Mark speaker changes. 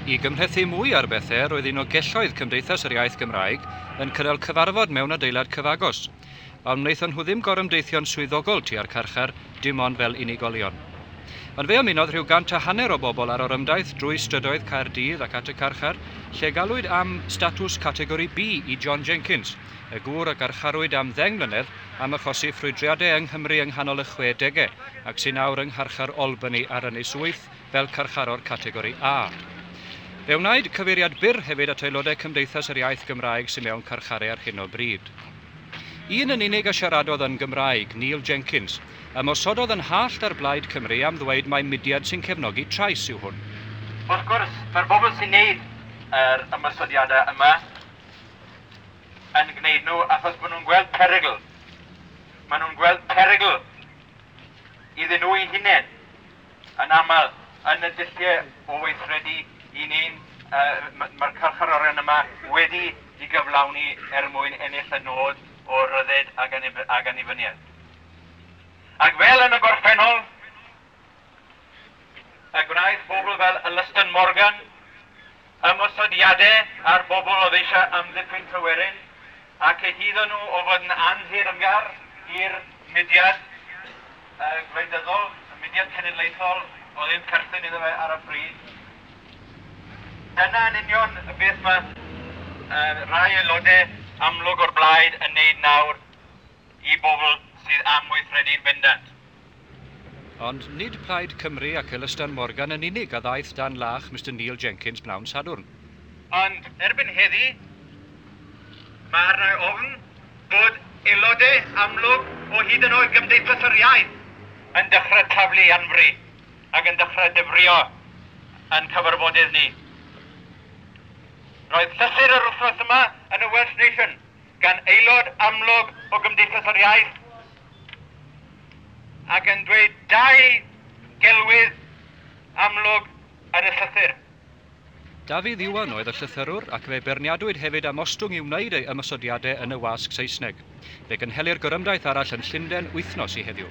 Speaker 1: I gymhlethu mwy ar bethau, roedd un o gelloedd Cymdeithas yr Iaith Gymraeg yn cynnal cyfarfod mewn adeilad cyfagos. Ond wnaethon nhw ddim gorymdeithio'n swyddogol tua'r carchar, dim ond fel unigolion. Ond fe ymunodd rhyw gant a hanner o bobl â'r orymdaith drwy strydoedd Caerdydd ac at y carchar, lle galwyd am statws Categori B i John Jenkins, y gŵr a garcharwyd am ddeng mlynedd am achosi ffrwydriadau yng Nghymru yng nghanol y chwe degau ac sy'n awr yng ngharchar Albany ar Ynys Wyth fel carcharor categori A. Fe wnaed cyfeiriad byr hefyd at aelodau Cymdeithas yr Iaith Gymraeg sy'n mewn carcharau ar hyn o bryd. Un yn unig a siaradodd yn Gymraeg, Neil Jenkins, ymosododd yn hallt ar Blaid Cymru am ddweud mai mudiad sy'n cefnogi trais yw hwn. Wrth gwrs,
Speaker 2: mae'r bobl sy'n neud yr ymosodiadau yma yn gwneud nhw achos maen nhw'n gweld perygl. Maen nhw'n gweld perygl iddyn nhw'i hunain yn aml yn y dulliau o weithredu i ni. Mae'r carcharorion yma wedi i gyflawni er mwyn ennill y nod o ryddid ac annibyniaeth. Ac fel yn y gorffennol, a gwnaeth bobl fel Alastan Morgan, ymosodiadau ar bobl oedd eisiau amddiffyn Tryweryn a cyhuddo nhw o fod yn anhirymgar i'r mudiad gwleidyddol, y mudiad cenedlaethol oedd yn perthyn iddo fe ar y pryd. Dyna yn union beth mae rhai aelodau amlwg o'r blaid yn neud nawr. i bobl sydd am weithredu'n bendant.
Speaker 1: Ond nid Plaid Cymru ac Elystan Morgan yn unig a ddaeth dan lach Mister Neil Jenkins bnawn Sadwrn. Ond
Speaker 2: erbyn heddi, mae arna'i ofn bod aelodau amlwg o hyd yn oed Gymdeithas yr Iaith yn dechrau taflu anfri ac yn dechrau dyfrio ein cyfarfodydd ni. Roedd llythyr yr wythnos yma yn y Welsh Nation, gan aelod amlwg o Gymdeithas yr Iaith ac yn dweud dau gelwydd amlwg yn y llythyr. Dafydd
Speaker 1: Iwan oedd y llythyrwr ac fe beirniadwyd hefyd am ostwng i wneud ei ymosodiadau yn y wasg Saesneg. Fe gynhelir gorymdaith arall yn Llundain wythnos i heddiw.